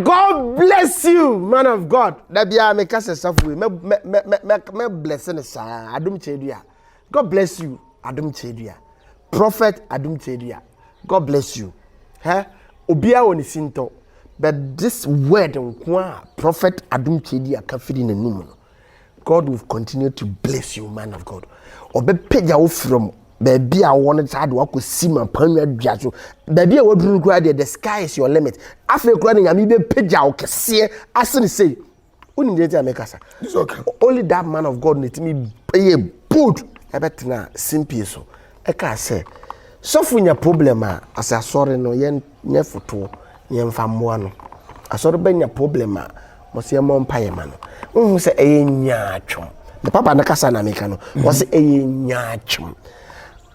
God bless you man of God da biara me ka sɛ safo wei mɛ bless ne saa adom kyɛdua God bless you adom kyɛdua prophet adom kyɛdua God bless you hɛ obiara wɔ ne sintɔ but this word nko a prophet adom kyɛdua ka firi n'anum no God will continue to bless you man of God ɔbɛpagya wo frɛ mu baabi a wɔn saa de wakɔ si ma panwa dua so baabi a waduru no koraa deɛ the sky is your limit afei koraa ne nyame bɛpagya wo kɛseɛ asene sei wonim deɛ nti a mekasa only that man of God na ɛtumi ɛyɛ bold ɛbɛtena simpie so ɛkaa sɛ sɔfo nya problem a asɛ asɔre no yɛn nyɛ fotoɔ na yɛmfa mmoa no. Asɔre bɛnya problem a, wɔse yɛmmɔ mpaeɛ mma no. Wohu sɛ ɛyɛ nyaatwom. Ne papa no kasa na meka no. Wɔse ɛyɛ nyaatwom.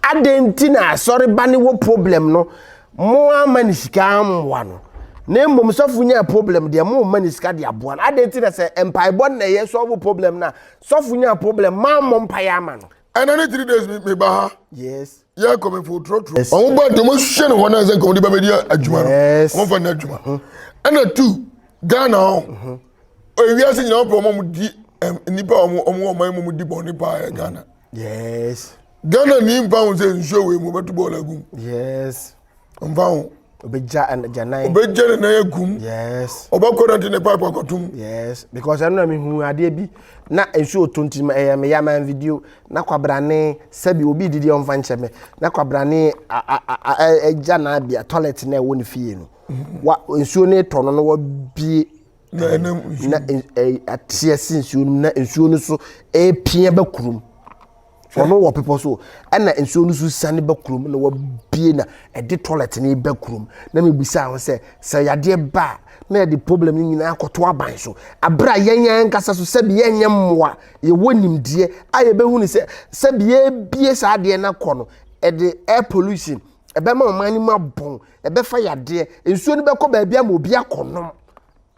Adɛn nti na asɔre ba ne wɔ problem no, mo ama ne sika ammoa no. Na mmom sɔfo nya problem deɛ mo ma ne sika de aboa no. Adɛn nti na sɛ mpaebɔ na ɛyɛ sɔfo problem no a, sɔfo nya problem, mammɔ mpaeɛ ama no. Ɛna ne three days meba ha. Yes. yɛ nkɔmɛfo trɔtrɔ wɔn ba deɛ wɔn hwɛ ne hɔ na sɛ nkɔmɔ de bɛbɛ di adwuma no wɔn fa ne adwuma mhm. ɛna tu ghana hɔ mhm. ewia se nyinaa wɔn wɔn di nipa wɔn wɔn wɔn man wɔn di bɔn nipa yɛ ghana ghana ni mpa ho sɛ nsuo wei mu wɔbɛtu bɔɔl agum ɔmfa ho obegya gyanan obegya ne nan agum yes ɔbɛkɔ na te ne pipe akɔtom yes because ɛno na mehu adeɛ bi na nsuo tɔ nti ɛyɛ me yaman video na kwabrane sɛbi obi didi ɔmfa nkyɛ me na kwabrane agya na abia toilet na ɛwɔ ne fie no wa nsuo no tɔ no no wabie na ɛnam nsuo na ateɛ se nsuo no na nsuo no so ɛrepia ba kurom ɔno wɔ bepɔ so ɛna nsuo no so sane ba kurom na wabie na ɛde toilet no ba kurom na mebisa ho sɛ sɛ yadeɛ ba a na yɛde problem no nyinaa akɔto aban so aberɛ a yɛn ankasa so sɛbi yɛnyɛ mmoa yɛwɔ nimdeɛ a yɛbɛhu ne sɛ sɛbi yɛbie saa adeɛ no akɔ no ɛde air pollution ɛbɛma ɔman no mu abɔn ɛbɛfa yadeɛ nsuo no bɛkɔ baabi ama obi akɔnom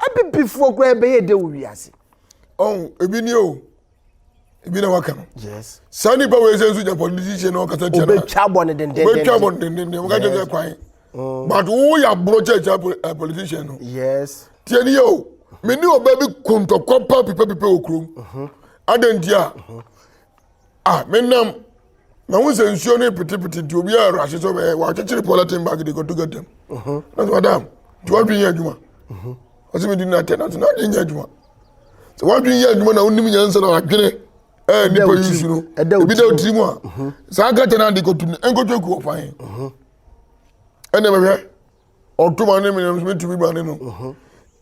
Abibifoɔ koraa bɛyɛ dɛ wɔ wiase. Ɔn ebi ni o. Ebi na waka no. Yes. Saa nipa wɔ ɛsɛ nso Japan ne sisi na ɔkasa kyerɛ no. Obetwa bɔ ne dendenden. Obetwa bɔ ne dendenden. Ɔka kyerɛ sɛ kwan. Mm. But wo yɛ aborɔ kyɛ kyɛ eh, politician no. Yes. Tiɛ ni yɛ o. Me ni ɔbɛ bi kuntɔkwa pa pipɛ pipɛ wɔ kurom. Mhm. Adantia. Mhm. Ah, me nam. na ho sɛ nsuo no petepete nti obi a rahyɛ sɛ ɔbɛyɛ wakyekyere pɔlɛten bag de kɔto gatam uh-huh. na sɛ madam nti wadwen yɛ adwuma uh-huh. ɔsɛ medi no atɛ nanso n'adwen yɛ adwuma sɛ wadwen yɛ adwuma na wonim nyansa na wadwene ɛɛ nipa yi nsu no ebi da otiri mu a uh-huh. saa kɛtɛ no ade kɔto no ɛnkɔto akuo fan ɛnna mɛhwɛ ɔto ma ne mene nso metumi ma ne no mhm.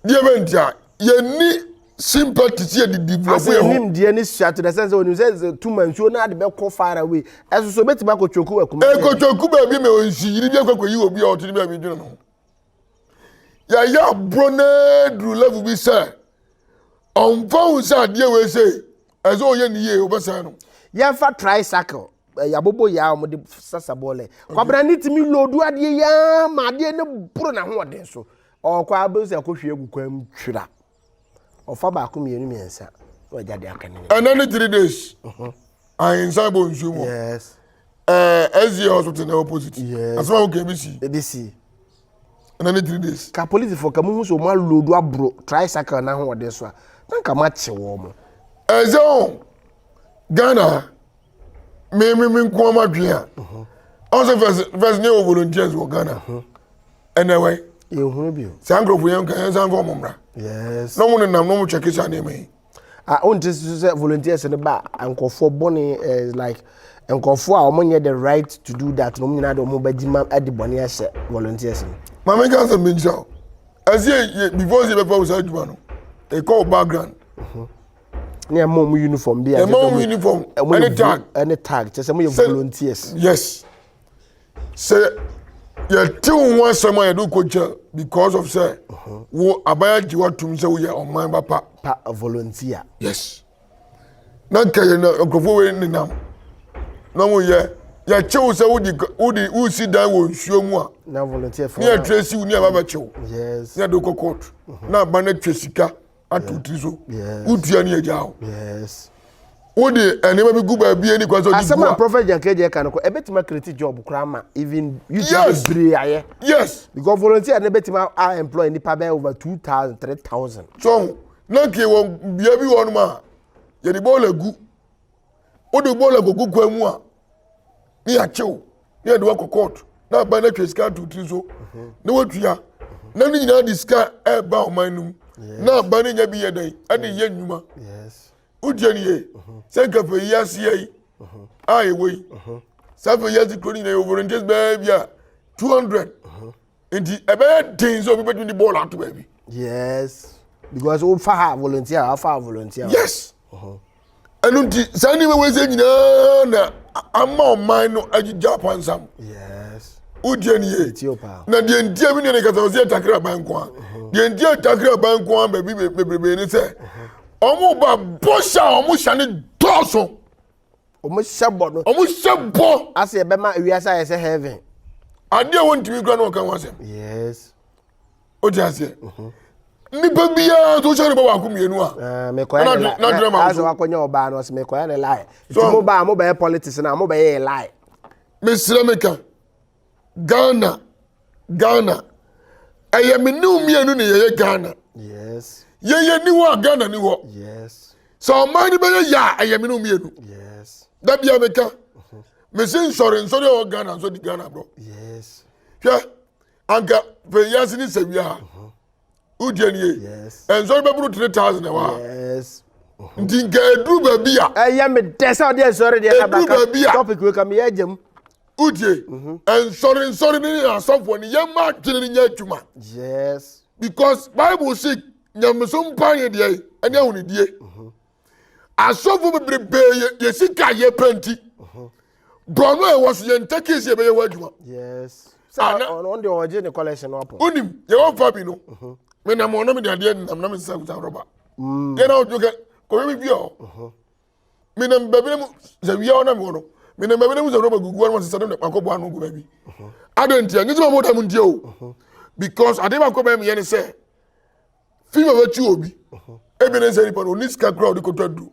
deɛ bɛ nti a yɛni sympathy sɛ yɛde develop yɛ ho nimdeɛ ne suato na sɛn sɛ onim sɛ tuma nsuo no ade bɛkɔ far away ɛso so obɛtumi akɔtwoku wɔ akuma ɛkɔtwoku baabi ma ɔnsi yiri bi akɔkɔyi obi a ɔte ne baabi dwene no yɛyɛ aborɔ no aduru level bi sɛ ɔmfa ho sɛ adeɛ wei sɛ ɛsɛ ɔyɛ ne yie wobɛsɛe no yɛmfa tricycle eh, yɛabobɔ yɛ a wɔde sasa bɔɔlɛ kwabena ne tumi lodu adeɛ yɛa ma adeɛ no boro n'ahoɔden so ɔkɔ a bɛhu sɛ ɛkɔhwie agu kwan mu twira ɔfa baako mmienu mmiɛnsa na wagya de aka ne nyinaa. ɛnɛ ne three days ahensan bɔ nsuo mu yes ɛɛ ɛziɛ hospital na opposite Yes. asɛm a wokɛ bi si ebi si ɛna ne three days. ka polisifoɔ ka muhu sɛ wɔn alodu aboro tricycle no ahoɔden so a na nka makye wɔn mo. ɛsɛ o ghana me me me nko ama dwen a ɔn sɛ first first ne yɛwɔ volunteers wɔ ghana ɛnɛ wɛ yɛhunu bi o saa nkurɔfoɔ yɛn nka yɛn nsa nka ɔmo mmra yes na ɔmo nenam na ɔmo twɛ kesa nneɛma yi a wonte so sɛ volunteers no ba a nkurɔfoɔ bɔne eh, like nkurɔfoɔ a wɔnyɛ the right to do that na wɔn nyinaa de wɔn bɛgye ma de bɔne ahyɛ volunteers no maame nka asɛm bi nkyerɛ wo ɛsɛ yɛ before sɛ yɛbɛfa wo saa adwuma no ɛkɔ wo background ne ɛma wɔn uniform bi a ɛma wɔn uniform ɛne tag ɛne tag kyɛ sɛ wɔyɛ volunteers yes sɛ yɛte wo ho asɛm a yɛde wokɔgya because of sɛ wo aban agye woatom sɛ woyɛ ɔman ba pa pa volunteer yes na nka yɛ na nkurɔfoɔ wei nenam na moyɛ yɛkye wo sɛ wode ka- wode wosi dan wɔ nsuo mu a na volunteer fo ne yɛtwerɛ si wo ne ɛba bɛkye wo yes ne yɛde wokɔ court na aba no atwa sika ato tiri so wotua ne agya hɔ wode nneɛma bi gu baabi ani kwan sɛ ɔde asɛm a prophet jankagya ka no kɔ ɛbɛtumi akreti job koraa ma even youth yes. bebree ayɛ yes because volunteer no bɛtumi a employ nipa bɛyɛ over two thousand three thousand. so na nke wɔ bea bi wɔnom a yɛde bɔɔla gu wode bɔɔla gogu kwan mu a ne yɛakye wo ne yɛde wakɔ court na aba no atwa sika ato tiri so mhm. na watua na ne nyinaa de sika ɛreba ɔman no mu na aba no nya bi yɛ dɛn ɛde yɛ nnwuma wotie ne yie mhm. sɛ nka fɛ yi aseɛ yi mhm. a ɛwɔ yi saa fɛ yi ase kuro no nyinaa yɛ volunteers bɛɛ bi a 200 nti ɛbɛyɛ den sɛ obi bɛtumi de bɔɔl ato baabi. yes because o fa ha volunteer a fa ha volunteer. yes uh-huh. ɛnu nti saa nneɛma wɔ ɛsɛ nyinaa na ama ɔman no agyigya pansam. yes wotie ni ye na deɛ ntia mi nana kasa ɔsi ɛtakira ban nko a uh-huh. deɛ ntia ɛtakira ban nko a baabi bebrebe ni sɛ uh-huh. wɔn ba bɔhyɛ a wɔn hyɛ ne dɔɔso. wɔn hyɛ bɔ no. wɔn hyɛ bɔ. ase ɛbɛma wiase ayɛ sɛ heaven. adeɛ a wɔntumi kura na wɔka ho asɛm. yes. o ti aseɛ. Mhm. nipa biara tó sɛ ne bɔ baako mmienu a. Ah, mekɔyɛ ne lie n'adwene ma nso. asɛ wakɔnya ɔbaa no ɔsɛ mekɔyɛ ne lie. so mo baa mo bɛyɛ politics na mo bɛyɛ lie. mesrɛ meka Ghana Ghana ɛyɛ me ne mmienu ne yɛyɛ Ghana yɛyɛ ni hɔ a Ghana ni hɔ sɛ ɔman no bɛyɛ yɛ a ɛyɛ me ne mmienu da bia meka mhm. mese nsɔre nsɔre ɛwɔ Ghana nso di Ghana borɔ hwɛ anka pɛyiase ne sawia a mhm. wodeɛ nie ɛnsɔre bɛboro 3000 ɛwɔ a mhm. nti nka ɛduru baabi a ɛyɛ me dɛ sɛ ɔde ɛnsɔre deɛ ɛduru baabi a topic wei ka meyɛ agyam Wotie? Nsɔre nsɔre no ne asɔfoɔ no yɛmma adwene no nyɛ adwuma. Yes. Because Bible se nyamesom mpa yɛ deɛ ɛne ahonidie. Asɔfoɔ bebrebee yɛ deɛ sika yɛ pɛ nti. Bɔno a ɛwɔ so yɛn ntakee si ɛbɛyɛ hɔ adwuma. Yes. Saa ɔno deɛ ɔgye ne collection no apɔ. Wonim yɛwɔ fa bi no. Menam ɔno mede adeɛ nam na mesesa kuta rɔba. Yɛn na ɔdwo kɛ kɔhwɛ me fie hɔ. menam baabi no mu sɛ wia ɔnam hɔ no menam baabi no mu sɛ rɔba gugu hɔ no sɛ sɛdem makɔbɔ ano gu baabi adɛn ntia nyɛ sɛ ma mɔda mu ntia o because adeɛ baako bɛyɛ meyɛ ne sɛ fifa bɛkyi obi ebi ne sɛ nipa no ɔni sika kora ɔde kɔtɔ aduro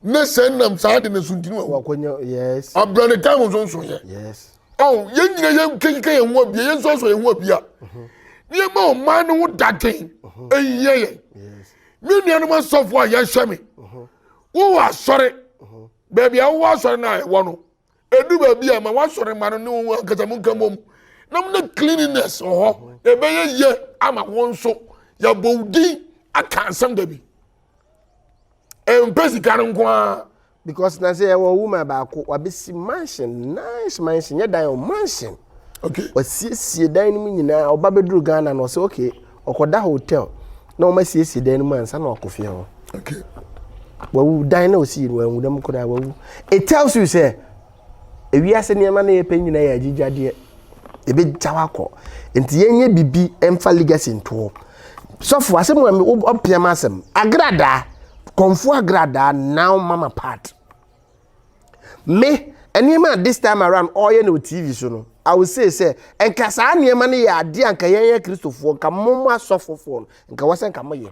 ne sɛ nam saa de ne so ntini wa abira ne time nso nso yɛ ɔn yɛn nyina yɛn kekeka yɛn ho abia yɛn nso asɔ yɛn ho abia nneɛma ɔman no ho dadwen ɛnyɛ yɛn Me nuanom asɔfo a yɛhyɛ me, wowɔ asɔre, baabi a wowɔ asɔre no a ɛwɔ no, ɛdu baabi a ma woasɔre ma no ne wo ankasa mo nka mmom na mo ne cleanliness wɔ hɔ, ɛbɛyɛ yɛ ama wo nso yɛabɔ wo din aka asɛm da bi. Ɛmpɛ sika no nko ara. Because na sɛ yɛwɔ woman baako wabɛsi mansion nice mansion nyɛ dan o mansion okay. wasiesie dan no mu nyinaa ɔba bɛduru Ghana na ɔsɛ okay ɔkɔda hotel na wɔn asiesie dan no mu ansa na wakɔ fie hɔ okay. wawu dan na ɔsi yɛ no wanwu dɛm koraa wawu it tells you sɛ Ewiase nneɛma na yɛpɛ nyinaa yɛ agyigyadeɛ. Yɛbɛgyaw akɔ. Nti yɛnyɛ biribi mfa legacy ntoɔ. Sɔfo, asɛm a ɔpia ma asɛm. Agradaa, kɔnfo agradaa now mama part. Me, nneɛma a this time around ɔyɛ no TV so no, I will say sɛ, nka saa nneɛma no yɛ adeɛ a nka yɛn yɛ Kristofoɔ, nka mo mo asɔfofoɔ no, nka wɔ sɛ nka moyɛ.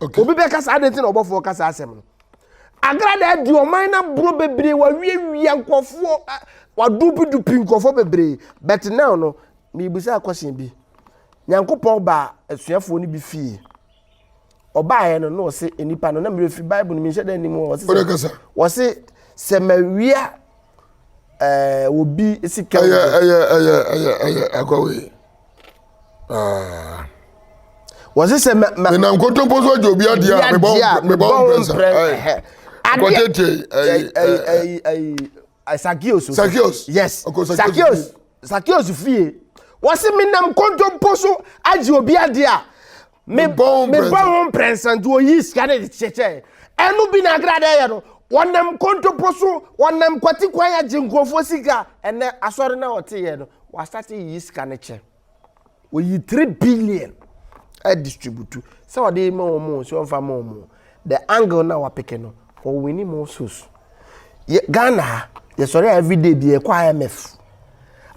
Okay. Obi bɛka saa adeɛ nti na ɔbɔfoɔ ka saa asɛm no. Agrada adi ɔman no aboro bebree wawiawia nkurɔfoɔ wadupidupi nkurɔfoɔ bebree but now no mebisa akɔhyɛn bi. Nyankopɔn baa asuafoɔ no bi fie. Ɔbaeɛ no na ɔse nnipa no na mmerɛ firi Bible no menhyɛ da anim ɔse ɔse sɛ mawia ɛɛ eh, obi sika. Ɛyɛ ɛyɛ ɛyɛ ɛyɛ ɛyɛ akɔwe. Ah. wɔn sɛ sɛ ma ma. ɛna nkontompo so agye obi adeɛ a mebɔ mebɔ ho mprɛnsa akɔtete ayi ayi ayi sakios sakios yes sakios sakios fie wɔsi menam nkontompo so agye obi adeɛ a. me bɔ ho mprɛnsa me bɔ ho mprɛnsa nti oyi sika ne de kyekyɛ ɛno bi na agra dɛ yɛ no wɔnam kontopo so wɔnam kwati kwan agye nkurɔfoɔ sika ɛnɛ asɔre na ɔte yɛ no wasate yi sika ne kyɛ oyi three billion ɛdistributu sɛ ɔde ma wɔn sɛ ɔnfa ma wɔn The angle na wa peke no ɔ winni more souls. Yɛ Ghana ha yɛ sɔre a every day bi yɛ kɔ IMF.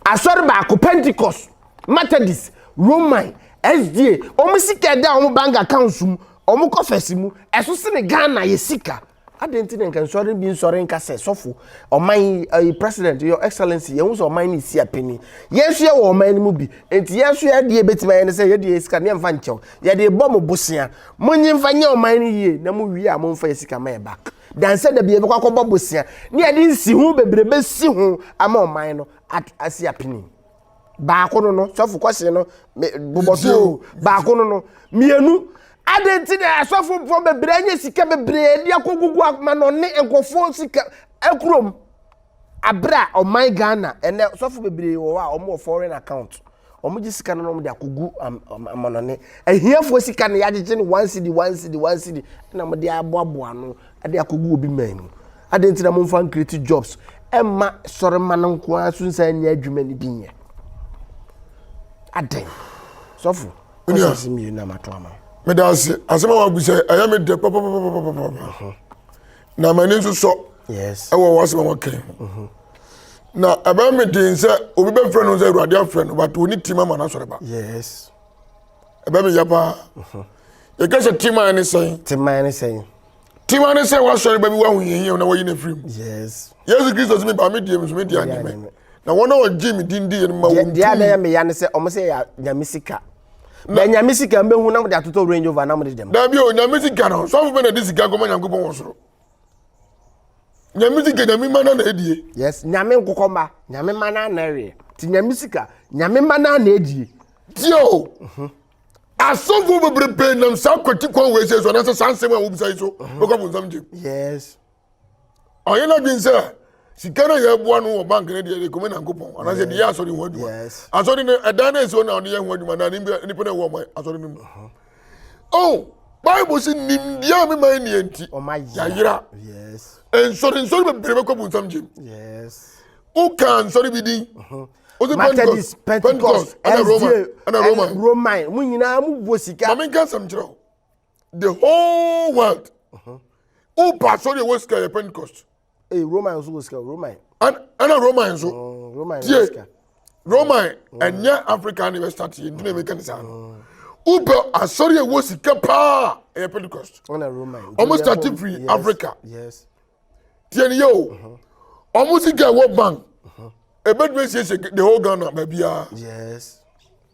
Asɔre baako Pentecost, Methodist, Roman, SDA, ɔmo sika ɛda ɔmo bank accounts mu, ɔmo coffers mu, ɛso sene Ghana yɛ sika. Adɛn nti na nka nsɔre bi nsɔre nka sɛ sɔfo, ɔman, ɛyi president, your excellency, yɛn ho sɛ ɔman ne si apini. Yɛn nso yɛ wɔ ɔman no mu bi. Nti yɛn nso yɛ adeɛ ebetumi ayɛ ne sɛ yɛ deɛ yɛ sika ne yɛn fa nkyɛw. Yɛde rebɔ mo bosea. Monye mfa nyɛ ɔman no yie na mo wie a momfa yɛ sika ma yɛ back. Dan sɛ da bi yɛbɛkɔ akɔbɔ bosea ne yɛde nsiho bebree bɛsi ho ama ɔman no at asi apini. Baako no no, sɔfo kɔhye no, me bobɔ so o, baako no no, mmienu, adɛn nti na asɔfofoɔ bebree anya sika bebree de akɔgugu amanɔne nkurɔfoɔ sika akurom? Abere a ɔman Ghana, ɛnɛ sɔfo bebree wɔ hɔ a wɔn wɔ foreign account. Wɔn gye sika no na wɔn de akɔ gu amanɔne. Ahiafoɔ sika no yɛagyegye no one cedi one cedi one cedi na wɔn de aboaboa ano de akɔ gu obi man mu. Adan ti na wɔn fa nkireti jobs ɛma sɔre ma no nko ara so nsa nyɛ adwuma no bi nyɛ. Adan. Sɔfo. Kɔsɛ ase mmienu na mato ama. Meda ase asɛm a wagu sɛ ɛyɛ me dɛ papapapapapa. na m'ani nso sɔ ɛwɔ w'asɛm a wɔkɛn ho na ɛbɛn mi den sɛ obi bɛfrɛ no sɛ awurade afrɛ no bato ne tim ama n'asɔre ba ɛbɛn mi yɛ paa yɛka sɛ tim ayɛ ne sɛn tim ayɛ ne sɛn tim ayɛ ne sɛn w'asɔre ba bi w'ahohiahia na wɔyi ne firi mu yesu kristo sɛ mi ba mi die mi so mi di anyame na wɔn a wɔgye me din diiɛ no ma wɔn deɛ adan yɛ meya ne sɛ ɔmo sɛ yɛ nyame sika bɛ nyame sika mbɛhu na mode atotɔ range over na mode dɛm daabi o nyame sika no sɔfo bɛ na de sika nkɔma nyankopɔn wɔ soro nyame sika nyame ma na na adie yes nyame nkokɔ mma nyame ma na na ɛweɛ nti nyame sika nyame ma na na adie tie o mhm. asɔfo bebrebe nam saa kwati kwan wei sɛ so anaasɛ saa nsɛm a wobisa yi so bɛkɔ abonsam gyem yes ɔyɛ n'adwene sɛ sika no yɛ boa no wɔ bank no deɛ ɛkɔmɛ nyankopɔn anaasɛ deɛ yɛ asɔre ho adwuma asɔre no ɛdan no ɛsi hɔ na ɔde yɛ ho adwuma na nipa no ɛwɔ ɔma asɔre no mu uh-huh. oh bible sɛ nimdeɛ a mema nneɛ nti yɛayera nsɔre nsɔre bebree bɛkɔ bu nsam gyem woka nsɔre bi din uh-huh. Methodist, Pentecost, SDA, Roman, Roman, mu nyinaa mu bɔ sika. Maame nka nsɛm kyerɛ o. the whole world woba asɔre a ɛwɔ sika yɛ pentecost Hey, Roman nso wɔ sika Roman. Ɛn- ɛna roman nso Mm, Roman tie wɔ sika. roman ɛnyɛ africa ne westart yɛ ntina meka ne saa no wobɛ asɔre a ɛwɔ sika paa a, ɛyɛ pentecost Ɛna Roman. Ɔmo start Julian firi Yes, Africa. Yes. tie ne yɛ o ɔmo sika ɛwɔ bank ɛbɛtumi asiesie the whole ghana baabiaa Yes.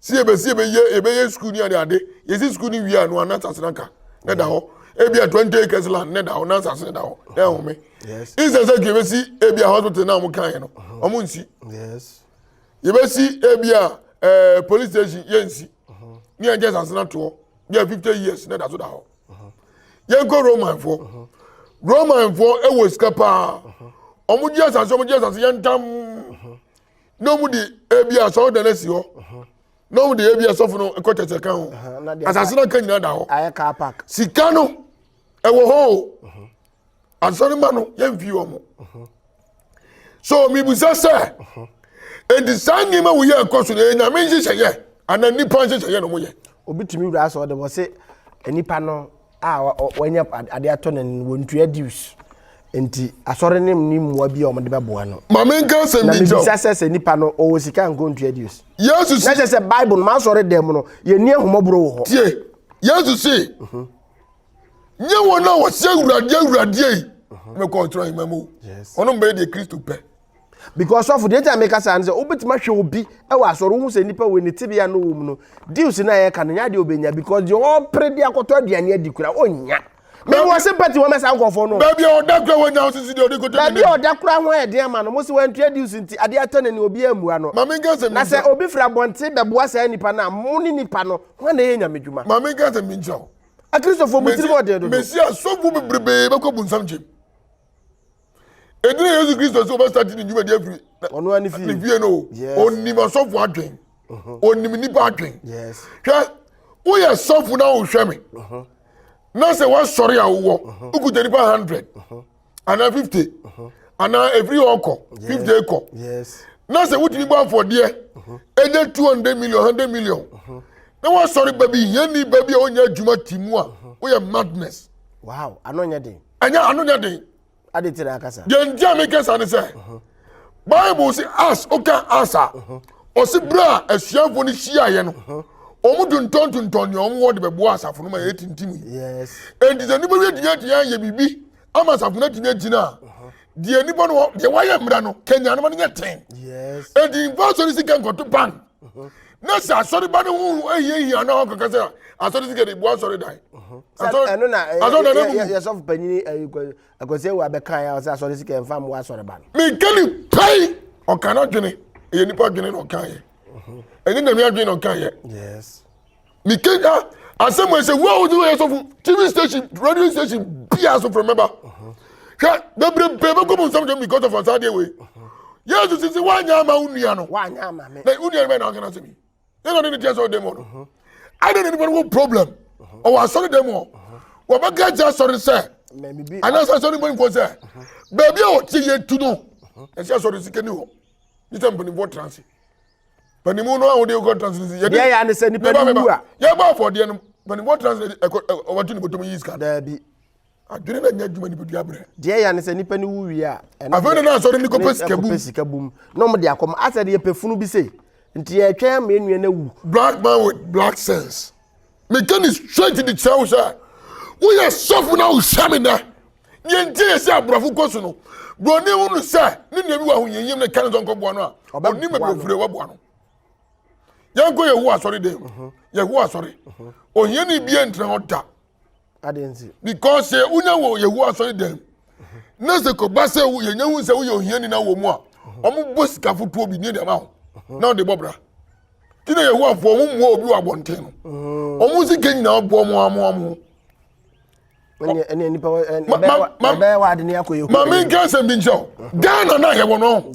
Sɛ yɛbɛ sɛ yɛbɛyɛ yɛbɛyɛ sukuu ni adeade yɛsi sukuu ni wie a no anansa sena ka na da hɔ ebi a twenty acres land na da hɔ nansa sena da hɔ na ɛhome instead sɛ kii bɛsi ebi a hospital na wɔn kan yɛ no wɔn nsi yɛbɛsi ebi a ɛɛ eh, police station yɛ nsi ni yɛn kyɛ sasena toɔ bi a fifty years na da so da hɔ yɛn kɔ roman foɔ roman foɔ ɛwɔ sika paa wɔn gye asase wɔn gye asase yɛn ntam. na wɔn de ebi asɔrɔ dan esi hɔ na wɔn de ebi asɔfo no kɔ tɛtɛ kan ho asase na nka nyinaa da hɔ sika no ɛwɔ hɔ o asɔrɔ ma no yɛn fi wɔn so mibusa sɛ edi saa nneɛma wo yɛ ɛkɔ so na enyame nhyehyɛ yɛ ana nipa nhyehyɛ yɛ na wɔn yɛ. obi tumi wura asɔrɔ de wɔ se nipa no. a wanya ade atɔ n'ani no, wɔntua dues. Enti asɔre no nni mmoa bi a wɔde bɛboa no. Ma menka asɛm bi nkyɛw. Na mebisa sɛ sɛ nipa no ɔwɔ sika nko ntua dues. Yesu si. Na kyerɛ sɛ Bible no m'asɔre dan mu no yɛnni ahomɔborɔ wɔ hɔ. Tie Yesu si. Mhm. Nyɛ wɔn a wɔsɛ awurade awurade yi. Mhm. Mekɔ ɔsoro ahima mu. Ɔno mbɛyɛ deɛ Kristo pɛ. because sɔfo deɛ gya meka saa no sɛ wobɛtumi ahwɛ obi wɔ asɔre wohu sɛ nnipa wei ne tebea no wɔ mu no deals no a yɛka no nyɛ adeɛ wobɛnya because deɛ ɔpere de akɔtɔ aduane adi kora ɔnya mewɔ se pati wɔmɛ saa nkɔfoɔ no baabi a ɔda kora wɔnya wo sisi deɛ ɔde kɔtɔ baabi a ɔda kora ho ayɛ den ama no mo se wantua deals nti adeɛ atɔ n'ani obi ammua no mame nka sɛ na sɛ obi firi abɔnten bɛboa saa nnipa no a mo ne nnipa no ho na ɛyɛ nyame dwuma mame nka sɛ menkyerɛ wo akristofoɔ mo tirim ɔden dodo mesi asɔfo bebrebe bɛkɔ bunsam gyem ɛdina yesu kristo sɛ ɔbɛsate ne dwumadi afiri ne fie no ɔnim asɔfo adwen ɔnim mm-hmm. nnipa adwen hwɛ woyɛ sɔfo na wohwɛ me mm-hmm. na sɛ woasɔre a wowɔ mm-hmm. wokuta nipa 100 anaa 50 anaa ɛfiri hɔ kɔ 50 kɔ na sɛ wotumi bɔ afɔdeɛ ɛnyɛ 200 million 100 million na woasɔre ba bi hiani ba bi a wonya adwuma ti mu a woyɛ madness wow ano nyɛ den ɛnyɛ ano nyɛ den ade nti na akasa deɛ nti a meka sa ne sɛ bible se as woka as a ɔse berɛ a asuafoɔ no hyiaeɛ no wɔn tontɔntontɔn nea wɔn wɔ de bɛboa asafo no ma yɛ tintim yi yes enti sɛ nnipa bi atumi atumi ayɛ biribi ama asafo no atumi agyina a deɛ nnipa no wɔ- deɛ wɔayɛ mmerɛ no kanya no ma no nyɛ ten yes enti mfa so no sika nkɔto bank na sɛ asɔreba no ho ahiahia na ɔkɔka sɛ asɔre sika de boa asɔre dan ɛno na yɛsɔfo panyini akwasi awu abɛkae a ɔsɛ asɔre sika ɛmfa mmoa asɔreba no menka ne pɛi ɔka no adwene ɛyɛ nipa adwene na ɔkaeɛ ɛnyɛ nyame adwene na ɔkaeɛ mekenka asɛm wɔ sɛ wo a wode wɔyɛ sɔfo tv station radio station bia so frɛ mɛba hwɛ bebrebe bɛkɔ mu nsɛm dɛm because of asadeɛ wei yesu sisi woanyɛ ama wo nua no na wo nua no bɛyɛ na ɔkena sɛ bi yɛna ɔde ne teɛ sɛ ɔdɛm hɔ no adɛ na nipa no wɔ problem ɔwɔ asɔre dɛm hɔ wɔbɛka kyɛ asɔre sɛ anaasɛ asɔre mpanimfoɔ sɛ baabi a ɔte yɛ tu no ɛsɛ asɔre sika ni hɔ ne sɛ mpanimfoɔ tra ase panimu no a wɔde kɔ translate yɛde deɛ yɛ anisɛ nipa ni wu a yɛbɔ afɔdeɛ no panimu wɔ translate ɛkɔ wɔtu ne bɔtɔm yi sika daabi adwene na nya adwuma nipadua brɛ deɛ yɛ anisɛ nipa ni wu wie a afei ne na asɔre ne kɔpɛ sika bum sika bum na wɔn de akɔm asɛ de yɛ pɛfunu bi se nti yɛ twɛn ama enua na wu black man with black sense. meka ne straight de kyerɛ wo sɛ woyɛ sɔfo na wohyɛ me nɛ deɛ nti yɛ sɛ aborɔfo kɔ so no buroni hu no sɛ ne nua bi wɔ ahohiahiam no ka ne sɛ nkɔboa no a ɔnim aborɔfire waboa no yɛnkɔ yɛhowa asɔre dɛn mu mhm. yɛhowa asɔre mhm. ohiani bia ntena hɔ da Adɛn nti? Because sɛ wonya wɔ Yehowa asɔre dɛm na sɛ kɔba sɛ yɛnya hu sɛ woyɛ ohiani na wɔ mu a wɔbɔ sika fotoɔ bi ne deɛ ma wo na wode bɔ bra nti na Yehowafoɔ wɔn mmoa obi wɔ abɔnten no mm. wɔn sika nyinaa bɔ wɔn amoa wɔn ho. ɛne nipa ɛbɛyɛ wa adi ne akɔ yehu. maame nka asɛm bi nkyɛn o ghana na yɛ wɔ no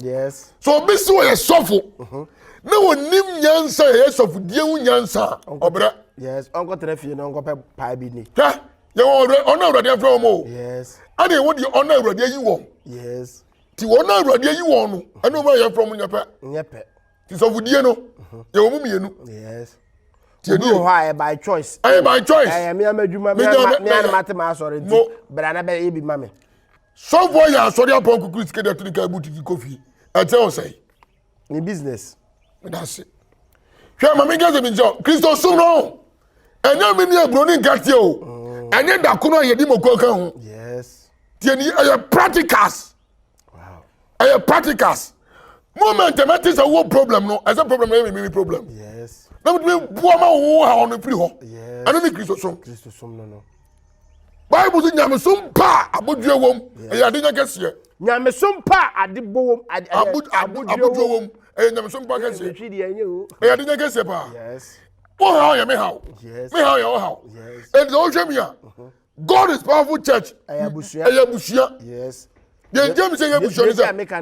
so obi si wɔ yɛ sɔfo mm-hmm. na wɔnim nyansa yɛ yɛ sɔfo die ho nyansa ɔbrɛ. yes ɔnkɔtena fie na ɔnkɔpɛ paa bi ni. hwɛ yɛwɔ ɔno awurade afrɛ wɔn o yes ɛna ɛwɔ deɛ ɔno awurade ayi wɔn yes ti wɔn awurade ayi wɔn no ɛna wɔn a yɛfrɛ wɔn nyɛ pɛ nyɛ pɛ ti sɔfodie no mhm. yɛwɔ mu mmienu yes obi wɔ hɔ a ɛyɛ by choice ɛyɛ by choice ɛyɛ mmea ma adwuma mmea no ma te ma asɔre nti bra na bɛyɛ bi ma me sɔfoɔ yɛ asɔre apɔn kukuru sika de ato ne kaa butu de kɔ fie ɛkyɛ ɔsɛe ne business. meda ase hwɛ ma menka sɛ menkyɛ kristo som no ɛnyɛ me ne aburo ne nkateɛ o mm. ɛnyɛ dako no a yɛde mɔkɔ ka ho tiɛ ni ɛyɛ practicals ɛyɛ practicals moment ɛmɛte sɛ wowɔ problem no ɛsɛ problem no yɛ mememe problem na metumi boa ma wo ha ɔno firi hɔ ɛno ne kristo som Bible sɛ nyamesom pa a abodwoɔ wom ɛyɛ ade nya kɛseɛ. Nyamesom pa a ade bɔ wom abodwoɔ wom ɛyɛ nyamesom pa kɛseɛ. Ɛyɛ ade nya kɛseɛ paa. Wo haw yɛ me haw. Me haw yɛ wo haw. Ɛnti sɛ wohwɛ mi a, God is powerful church. Ɛyɛ abusua. Deɛ nti a mi sɛ ɛyɛ abusua ni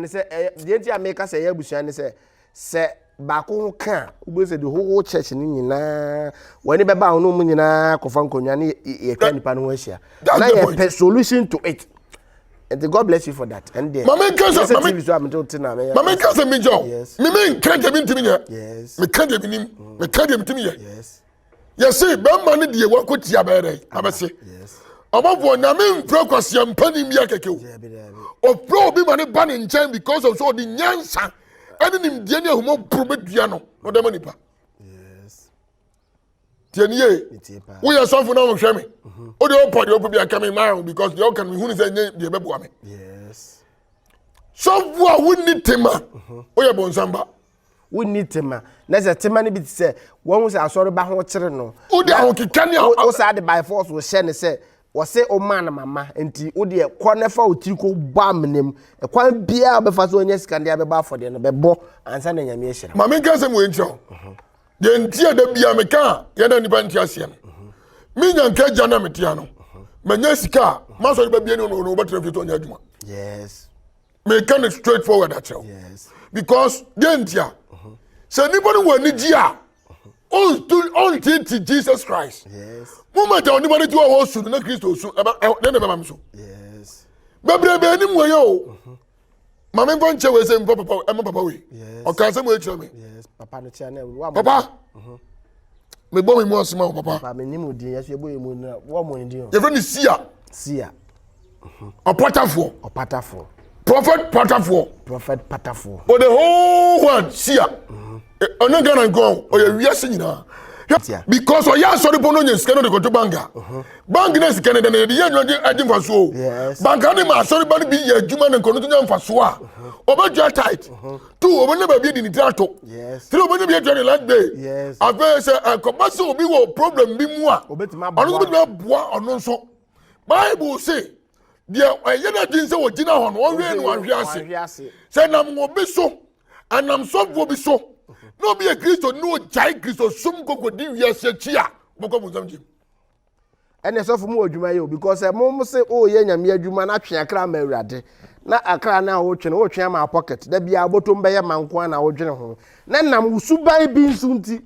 sɛ. Deɛ nti a mi ka sɛ ɛyɛ abusua ni sɛ. Sɛ baako ho ka a, wobɛhu sɛ the whole church no nyinaa wɔani bɛba ho no mu nyinaa kɔfa nkonnwa ne yɛtwa nipa no ho ahyia na yɛpɛ solution to it nti god bless you for that ɛn deɛ mame nka sɛ mame tv so a mete wote na meyɛ mame nka sɛ megya o meme nka deɛ mentimi nyɛ meka deɛ menim meka deɛ metimi yɛ yɛse bɛrima no deɛ wako tia bɛyɛ dɛ abɛse ɔbɔfoɔ nyame mfrɛ kwaseɛ mpani mmia kɛkɛ o ɔfrɛ obi ma ne ba ne nkyɛn because of so ɔde nyansa ɛne nimdeɛ ne ahumɔboro bɛdua no ɔda ma nipa tiɛnie woyɛ sɔfo na wohwɛ me mhm. wode wopɔ deɛ wopɛ bi aka me maa because deɛ woka no mehunu sɛ ɛnyɛ deɛ bɛboa me sɔfo a wonni tema mhm. woyɛ bɔnsamba wonni tema na sɛ tema no bi te sɛ wɔn sɛ asɔreba ho kyere no wode ahokeka ne wo saa de by force wɔhyɛ ne sɛ wɔse ɔmaa no mama nti wodeɛ kɔ ne fa otiri kɔ bɔ amena mu ɛkwan biara bɛfa so ɔnyɛ sika deɛ bɛbɔ afɔdeɛ no bɛbɔ ansa na nyame ahyira ma menka sɛm wɔ nkyerɛ wo mhm. deɛ nti a da bia meka a yɛda nnipa nti aseɛ no mhm. menya nka agya na metea no mhm. manya sika a masɔre ba bia ne ɔno wobɛtena fie tɔ ɔnyɛ adwuma yes meka no straight forward akyerɛ wo because deɛ nti a sɛ nnipa no wɔ anigye a ɔntete jesus christ moma gya onipa no ti wɔ hɔ su no na kristo su ne ne bɛma me so bebrebe anim wɔ yɛ o maame nfa nkyɛn wɔ ɛsɛ nfa papa ɛma papa wei ɔka asɛm wɔ akyerɛ mi papa papa. mebɔ me mu ase ma wo papa ba menim wo din yɛso yɛbɔ yɛ mu na wɔmmɔ ne din o yɛfrɛ ne sia sia ɔpatafoɔ ɔpatafoɔ prophet patafoɔ prophet patafoɔ for the whole world sia ɔne ghana nkɔ ɔyɛ wiase nyinaa Tia. because ɔyɛ asɔre bɔ no nya sika no de kɔto bank a bank no sika no dɛ no yɛde yɛ adwuma de agye mfasoɔ o Yes. bank no de ma asɔre ba no bi yɛ adwuma no nkɔno to nya mfasoɔ a ɔbɛdwa tight two wɔbɛnya baabi adi ne tiri ato three wɔbɛnya bi atua ne land bay afei sɛ ɛkɔba sɛ obi wɔ problem bi mu a ɔno nso bɛtumi aboa ɔno nso bible se deɛ ɛyɛ no adwene sɛ wɔgyina hɔ no ɔhwɛ no ahwe ase sɛ nam wɔ bi so anam sɔfoɔ bi so na obi yɛ kristo ne ɔgyae kristo som kɔkɔdi wiase akyi a wɔkɔ bonsam gyem ɛne sɔfo mu adwuma yɛ o because sɛ mo se woyɛ nyame adwuma na twe akra ma awurade na akra no a wotwe no wotwe ama pocket da biara bɔtɔm bɛyɛ ma nko a na wodwene ho na nam wo suban bi nso nti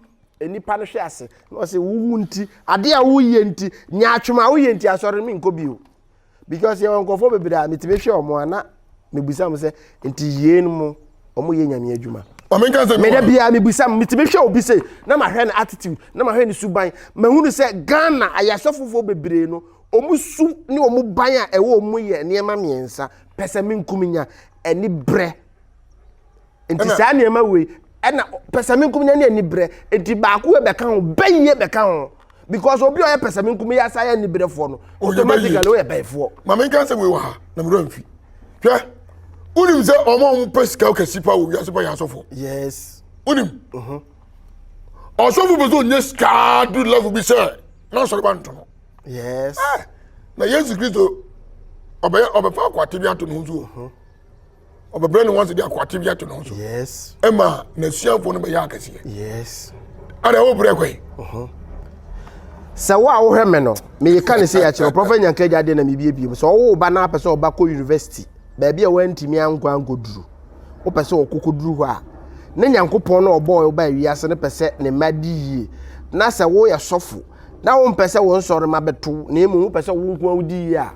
nipa no hwe ase na ɔse wowu nti ade a woyɛ nti nyaatwom a woyɛ nti asɔre me nkɔ bio because yɛwɔ nkurɔfoɔ bebree a metumi hwɛ wɔn a na mebisa mo sɛ nti yeinom mo wɔn yɛ nyame adwuma meda biara mebisa mo metumi hwɛ obi sei na mahwɛ no attitude na mahwɛ no suban mahunu sɛ ghana ayasɔfofoɔ bebree no wɔn su ne wɔn ban a ɛwɔ wɔn mu yɛ nneɛma mmiɛnsa pɛ sɛ menkum nya ɛne brɛ nti saa nneɛma wei ɛna pɛsɛmenkum nya ne anibrɛ nti baako yɛ bɛka ho bɛyie bɛka ho because obi a ɔyɛ pɛsɛmenkum yɛ asa yɛ anibrɛfoɔ no automatically ɔyɛ bɛyifoɔ. maame nka sɛ wei wɔ ha na mmerɛ mfi hwɛ wonim sɛ ɔma ɔmo pɛ sika kɛse pa wɔ wiase pa yɛ asɔfoɔ yes wonim mhm. ɔsɔfo pɛ sɛ ɔnya sika du level bi sɛ na ɔsɔre ba nto no yes eh, na yesu kristo ɔbɛyɛ ɔbɛfa akwate bi ato ne ho so mhm. ɔbɛbrɛ ne ho ase de akoate bi ato ne ho so yes ɛma n'asuafoɔ no bɛyɛ akɛseɛ yes ada wobrɛ kɔ yi uh-huh. sɛ wo a wohwɛ me no meyɛka ne sɛ yɛakyerɛ prɔfɛ nyanka agya deɛ na mebiebiem sɛ ɔwo ba no apɛ sɛ ɔba kɔ university baabi a woantumi ankɔ ankɔduru wopɛ sɛ ɔkɔkɔduru hɔ a ne nyankopɔn no ɔbɔɔ wo baa wiase no pɛ sɛ ne mma di yie na sɛ woyɛ sɔfo na wompɛ sɛ wo nsɔre ma bɛto na mmom wopɛ sɛ wo nko a wodi yie a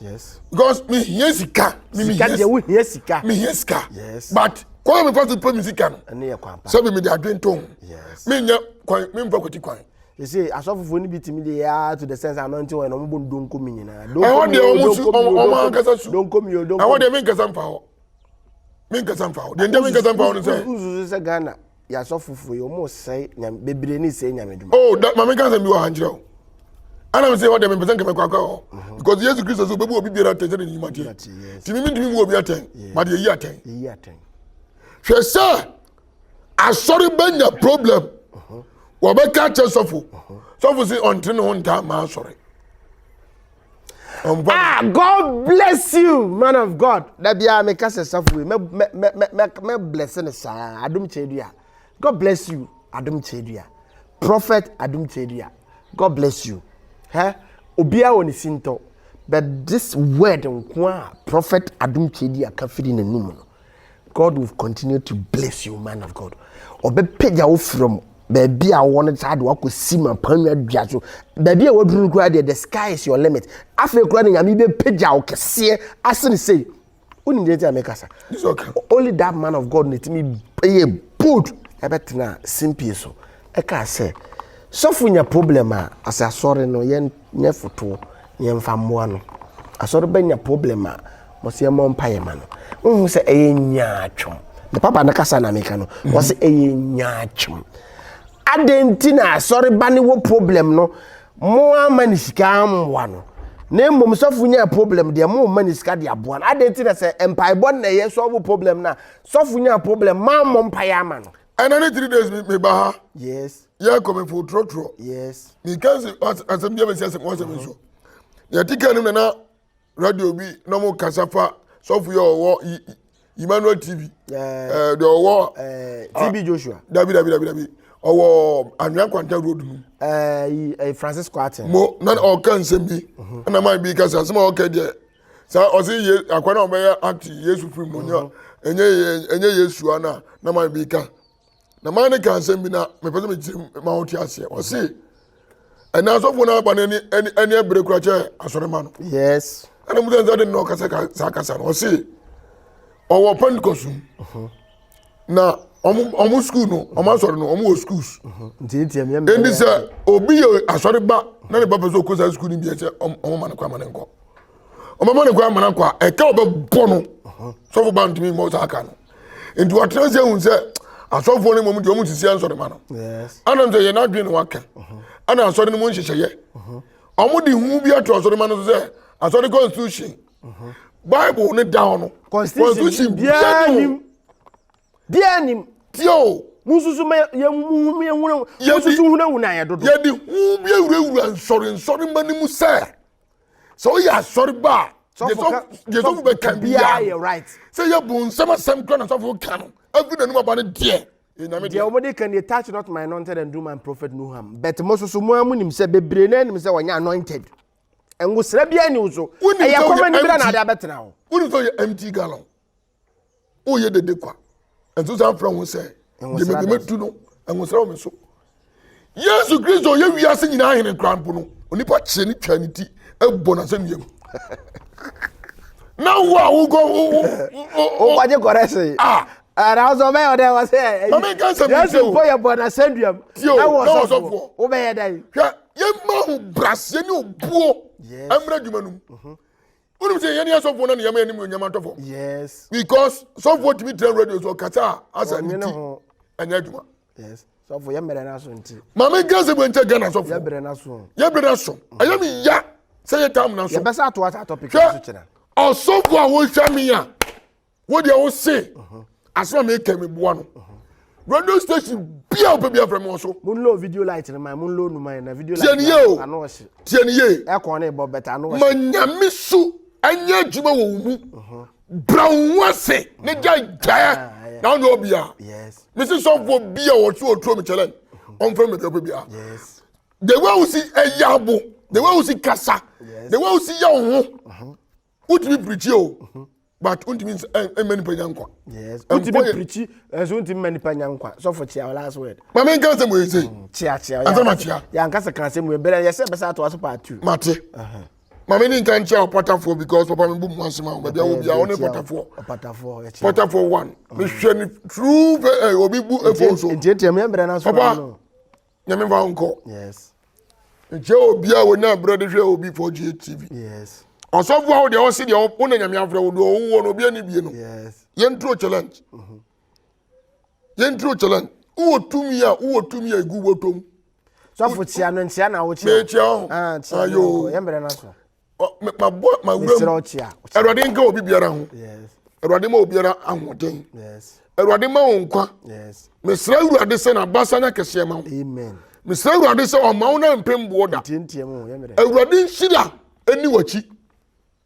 yes because mi hiɛ sika mi mi hiɛ sika deɛ wo hiɛ sika mi hiɛ sika yes but kwan mi fa so pɛ mi sika no ɛne yɛ kwan pa sɛbi mi de adwene to ho yes mi nya kwan mi nfa kɔti kwan ɛsɛ asɔfofoɔ no bi tumi de yɛa to the sense anointing wɔn na wɔn bɔ donko mi nyinaa ɛhɔ deɛ wɔn su wɔn ankasa su donko mi o donko mi ɛhɔ deɛ mi nkasa nfa hɔ mi nkasa nfa hɔ deɛ nkyɛn mi nkasa nfa hɔ no sɛ nsusu sɛ ghana yasɔfo fo yi ɔmo sɛe nyame bebree ne sɛe nyame dwuma. oh da maame nka nsɛm bi wɔ ha nkyerɛ o ɛna mi sɛ ɔdɛ mi mpɛsɛ nkɛmɛ kɔ akɔ hɔ mhm. because yesu kristo so obebu obi biara atɛn sɛ ne ne nyuma teɛ ti mi mi ntumi bu obi atɛn ma de eyi atɛn hwɛ sɛ asɔre bɛnya problem mhm. wɔbɛka kyɛ sɔfo mhm. sɔfo si ɔnte ne ho ntaa maa asɔre. ah god bless you man of god da biara meka sɛ safo yi mɛblɛse no saa adom kyɛdua god bless you adom kyɛdua prophet adom kyɛdua god bless you hɛ obiara wɔ ne sintɔ but this word nko a prophet adom kyɛdua ka firi n'anum no God will continue to bless you man of God ɔbɛpagya wo frɛ mu baabi a wɔn no saa de wakɔ si ma panwa dua so baabi a waduru no koraa deɛ the sky is your limit afei koraa ne nyame bɛpagya wo kɛseɛ asene sei wonim deɛ nti a mekasa only that man of God ne tumi ɛyɛ bold ɛbɛtena simpie so ɛkaa sɛ sɔfo nya problem a asɛ asɔre no yɛn nyɛ fotoɔ na yɛmfa mmoa no. Asɔre ba nya problem a, wɔse yɛmmɔ mpaeɛ mma no. Wohu sɛ ɛyɛ nyaatwom. Me papa no kasa na meka no. Wɔse ɛyɛ nyaatwom. Adɛn nti na asɔre ba no wɔ problem no, mo amma ne sika ammoa no. Na mmom sɔfo nyaa problem deɛ mo mma ne sika de aboa no. Adɛn nti na sɛ mpaebɔ na ɛyɛ sɔfo problem no a, sɔfo nyaa problem, moammɔ mpaeɛ ama no. ɛna ne three days mi ba ha yes yɛ kɔ mi fo trɔtrɔ yes mi kansi asɛm bi a mi si asɛm wɔsɛm nso yɛ ti kan no nana radio bi na mo kasa fa sɔfo yɛ ɔwɔ emmanuel tv ɛɛ deɛ ɔwɔ ɛɛ tv joshua dabi dabi dabi dabi ɔwɔ anwia kwanta road mu ɛɛ francis kwate mo na ɔka nsɛm bi ɛna maa bi kasa asɛm a ɔka deɛ. sɛ ɔse ye akwa na ɔbɛyɛ ate yesu firi mu nya ɛnyɛ ɛnyɛ yesu ana na maa bi ka na maa ne ka nsɛm bi na mepɛ sɛ mekyerɛ ma wote aseɛ ɔse ɛnɛ asɔfoɔ no aba no ani ani ani abere kora kyɛ asɔrema no yes ɛna mu sɛ nsa de no ɔkasa ka saa kasa no ɔse ɔwɔ pentecost mu na wɔn sukuu no wɔn asɔre no wɔn wɔ sukuus ɛnti sɛ obi yɛ asɔre ba na ne ba pɛ sɛ ɔkɔ saa sukuu no bi sɛ wɔn ma ne kɔ ama ne nkɔ wɔn ma ne kɔ ama ne nkɔ a ɛka ɔbɛbɔ no sɔfo ba ntumi mmɔ saa ka no nti wɔatena sɛ ehu sɛ asɔfoɔ no mmom deɛ wɔn sisi asɔre ma no ɛna nso yɛ n'adwene na waka ɛna asɔre no mu nhyehyɛeɛ wɔn de hu bi ato asɔre ma no so sɛ asɔre constitution bible ne da hɔ no constitution biara nim biara nim tio mususu ma yɛmuhu yɛhunu mususu hunahuna yɛ dodo yɛde hu bi awurawura nsɔre nsɔre ma no mu sɛ sɛ woyɛ asɔre ba a yɛsɔfo bɛka biara sɛ yɛbu nsɛm asɛm kora na sɔfo ka no afi n'anim aba no deɛ deɛ wɔde ka deɛ touch not my anointed and do my prophet no harm but mo soso mo a mo nim sɛ bebree na anim sɛ wɔnyɛ anointed ngosra biara ni so ɛyɛ kɔma ni bira na ade abɛtena hɔ woni sɛ ɔyɛ empty gallon woyɛ dede kwa ɛnso san frɛ ho sɛ gyemedematu no ngosra wɔ me so yesu kristo ɔyɛ wiase nyinaa hene kora mpo no onipa kyeɛ ne twa ne ti ɛbɔ nasɛ nnuam na wo a wokɔ wogye kɔrɛ se Nanso ɔbɛyɛ ɔdɛn wɔ sɛ ɛyi Yesu mpo yɛ bɔ n'asɛnduam na wɔ sɔfoɔ wobɛyɛ dɛn. Hwɛ yɛmma ho braseɛ ne obuo mmra adwuma no mu. Wonim sɛ yɛne asɔfoɔ no ne yɛma yɛnim onyam atɔ fam. Yes. Because sɔfoɔ tumi tena radio so ɔkasa a asa ne ti ɛnyɛ adwuma. Yes. Sɔfoɔ yɛ mmerɛ n'aso nti. Maame nka sɛ bɛnkyɛ Ghana sɔfoɔ. Yɛ mmerɛ n'aso. Yɛ mmerɛ n'aso. Ɛyɛ mi ya sɛ yɛ tam n'aso. Yɛ bɛsa ato asa topic n'aso kyerɛ. Ɔsɔfoɔ a wohwɛ mi a. wo deɛ wo se asɛm a meka meboa no radio station bia wopɛ bia frɛ me wɔ so monlo video light no man monlo no man na video light no ano ɔhye tiɛ ne ye ɛkɔn ne bɔ bɛta ano ɔhye ma nyame so ɛnyɛ adwuma wɔ wo mu mhm. bra wo ho ase ne gya gyaɛ ah, ah, ah, na wone ɔbia mese sɔfoɔ bia wɔ so ɔtuo me kyɛlɛn mhm. ɔmfrɛ me dɛpɛ bia the way wo si ɛyɛ abo the way wo si kasa the way wo si yɛ wo ho mhm. wotumi pirikyi o mhm. but wontumi mma nipa nya nkwa wotumi pirikyi ɛnso wontumi mma nipa nya nkwa sɔfo kyea wo last word ma menka asɛm wei sei mm, kyea kyea ɛnsa ma kyea yɛanka sɛ ka asɛm wei berɛ yɛsɛ bɛsɛ atoa so part two mate ma me ne nka nkyea wo patafoɔ because papa me bu mu asɛm a baabi a wo bia wo ne patafoɔ patafoɔ one mehwɛ ne true eh, obi bu ɛfo so papa Nyame mfa nkɔ. Yes. Nkyɛ obi a wɔnya berɛ de hwɛ obi fɔ GA TV. Yes. Ɔsɔfo a wɔde ɔsi deɛ wɔn na Nyame afrɛ wɔde ɔwɔ wɔn obi ani bie no. Yes. Yɛn turo challenge. Mhm. Yɛn turo challenge. Wowɔ tumi a wowɔ tumi a egu wɔtɔm. Sɔfo kyia no nkyia na wɔkyia. Mɛ kyia ho. Ah kyia no. Yɛn brɛ na so. mabɔ mawura mu awurade nka obi biara ho awurade ma obiara ahoɔden awurade ma wo nkwa mesrɛ awurade sɛ n'abasa nya kɛseɛ ma wo mesrɛ awurade sɛ ɔma wo na mpem boɔ da awurade nhyira ɛni w'akyi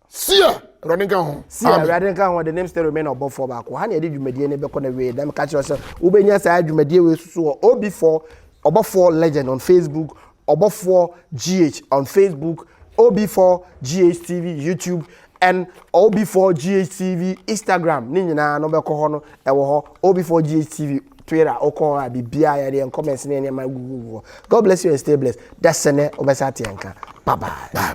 sia awurade nka ho sia awurade nka ho de name still remain ɔbɔfoɔ baako ha na yɛde dwumadie no bɛkɔ na wie dɛm ka kyerɛ sɛ wobɛnya saa dwumadie wei soso wɔ ob4 ɔbɔfoɔ legend on facebook Ɔbɔfoɔ GH on Facebook, OB4GHTV YouTube and OB4GHTV Instagram ne nyinaa no bɛkɔ hɔ no ɛwɔ hɔ OB4GHTV Twitter wokɔ hɔ a biribiara yɛde yɛn comments ne yɛn nneɛma gugugu hɔ God bless you and stay blessed da sɛ nɛ wobɛsa te yɛn ka bye bye.